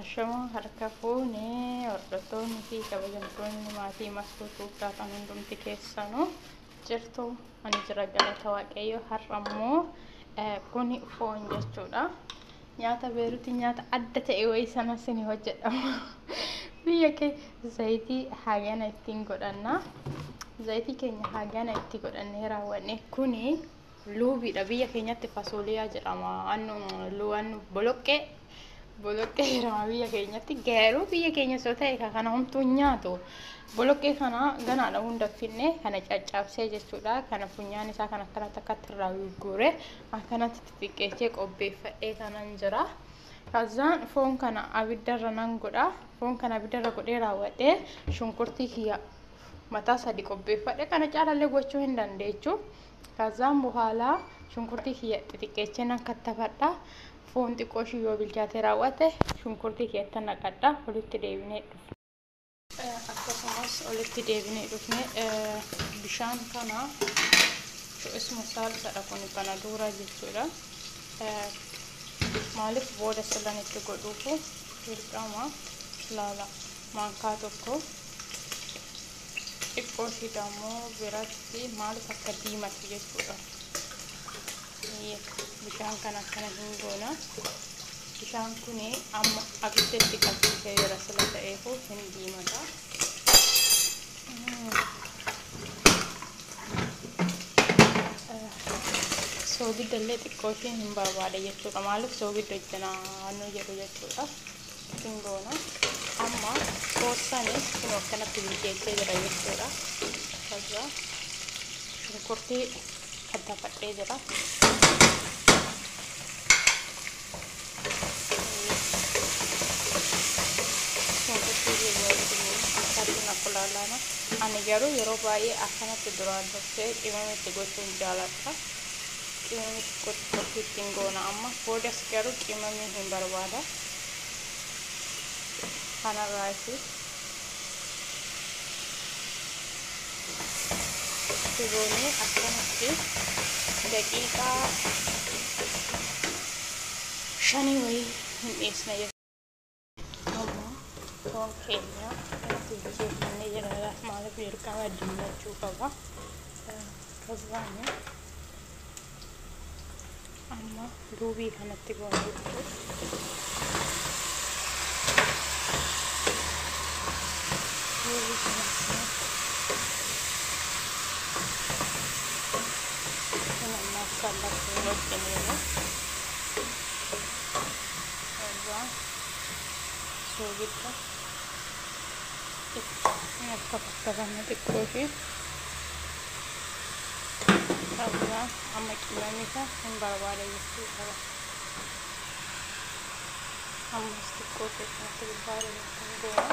Ashamaa harka fuune hordoftoonni fi kabajamtoonni maatii mastuu tuubdaa kan hundumti keessanuu jirtu ani jira galata waaqayyo har'a immoo kuni foon jechuudha. Nyaata beerutii nyaata adda ta'e wayii sana sini hojjedhama. Biyya kee zayitii hagana ittiin godhanna. Zayitii keenya hagana itti godhannee raawwanne kuni Luubiidha. Biyya keenyatti fasooliyaa jedhama. Annu luu annu boloqqee boloqqee jedhama biyya keenyatti. Garuu biyya keenya osoo ta'e ka kana homtuu hin nyaatu. Boloqqee kana ganaadha hunda finne kana caccabsee jechuudha. Kana funyaan isaa kan akkanatti akkatti irraa gurgure akkanatti xixiqqeechee qopheeffadhee kanan jira. Kazaan foon kana abiddarra nan godha. Foon kana abiddarra godhee raawwadhee shunkurtii kiyya mataa sadi qopheeffadhe kana caalallee gochuu hin dandeechu. Kazzaan bohaala shunkurtii kiyya xixiqqeechee nan kattafadha. Foon xiqqoo ishii yoo bilchaatee raawwate shunkurtii keetta naqadha. Olitti deebinee dhufna. Akkasumas olitti deebinee dhufne bishaan kana isuma saalsadha kun kana duuraa jechuudha. Maaliif booda silan itti godhuufu dirqama laala maankaa tokko Xiqqooshii dammoo biratti maalif akka diimate jechuudha. Bishaan kan akkana hin goona. Bishaan kun amma abidda itti qabsiisee jira sila ta'eefuu hin diimata. Soogidda illee xiqqooshii hin barbaada jechuudha. Maalif soogidda hojjanaa nu jedhu jechuudha. ittiin goona amma qoosani kun akkanatti bilcheessee jira jechuudha kaza shunkurtii kattafadhee jira shunkurtii wajjin akkulaalaana ani garuu yeroo baay'ee akkanatti duraan dursee qimamitti gochuun jaaladha Qimamii xiqqoo xiqqoo itti ittiin goona amma. Boodas garuu qimamii hin barbaada. Kanarraa itti itti goonee akkanatti daqiiqaa shanii wayii hin dhiisna jechuudha. foon keenya itti bilcheeffannee jiraata maaliif dirqama diimachuu qaba akkasumaan amma duubii kanatti goona jechuudha. Duubii kanatti kan ammaaf kan lakkuu wajjin Irraa soogidda itti akka fakkatame xiqqoo ishee irraa amma qimamisa hin barbaada jechuu qaba. Ammas xiqqoo ishee kanatti gubbaa irratti hin goona.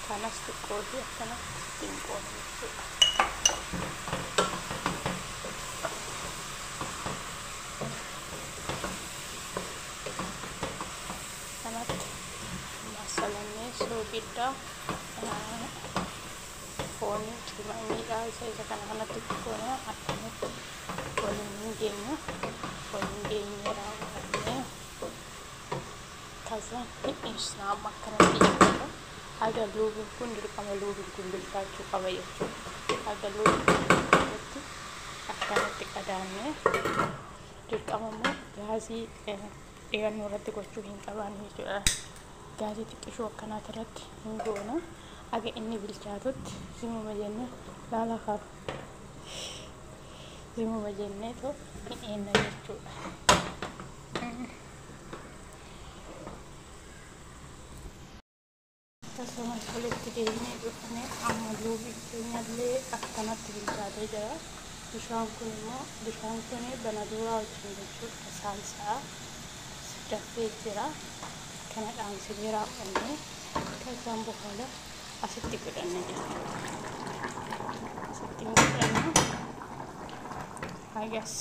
Kanas xiqqoo ishee akkanatti ittiin qoona. kanatti masalamee soogidda foonii qimamiidha isa isa kana kanatti goona akkanatti waliin hin geenya waliin geenyee raawwannee kazaan hin dhiisna amma akkanatti jechuudha Haga luubuuf kun dirqama luubiif gumbilfaachuu qaba jechuudha. Haga luubuuf akkanatti qadaannee dirqama immoo gaazii dhiyannoo irratti gochuu hin qabaannu jechuudha. Gaazii xiqqishoo akkanaati irratti hin goona. Haga inni bilchaatutti zimuma jennee laala kaaf zimuma jennee too hin eenna jechuudha. Akkasumas walitti deebinee dhufne amma luubi keenyallee akkanatti bilchaatee jira. Bishaan kun immoo bishaan kun banaduuraa wajjin jechuudha saalsa'a dafee jira. Kana dhaamsinee raawwannee kazaan boohala asitti godhanna jechuudha. Asitti hin godhanna. Hagas.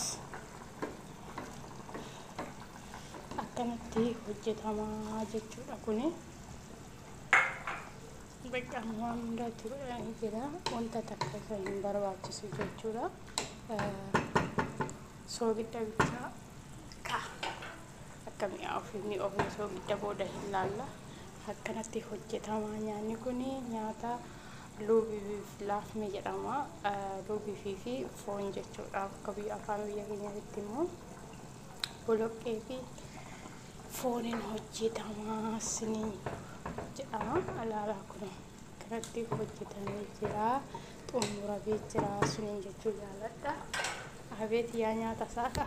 akkamitti hojjetama jechuudha kuni bakka waan hundatti godhanii jira wanta takka isa hin barbaachisu jechuudha soogidda bichaa ka akka mi'aa ofii mi'a ofii soogidda booda hin laalla akkanatti hojjetama nyaanni kun nyaata luubiif laafme jedhama luubiifii fi foon jechuudha akka biyya afaan biyya keenyaatti immoo boloqqee fi fooniin hojjetama siniin jedhama alaalaa kun kanatti hojjetamee jira xumuramee jira suniin jechuu jaaladha abeet yaa nyaata saaka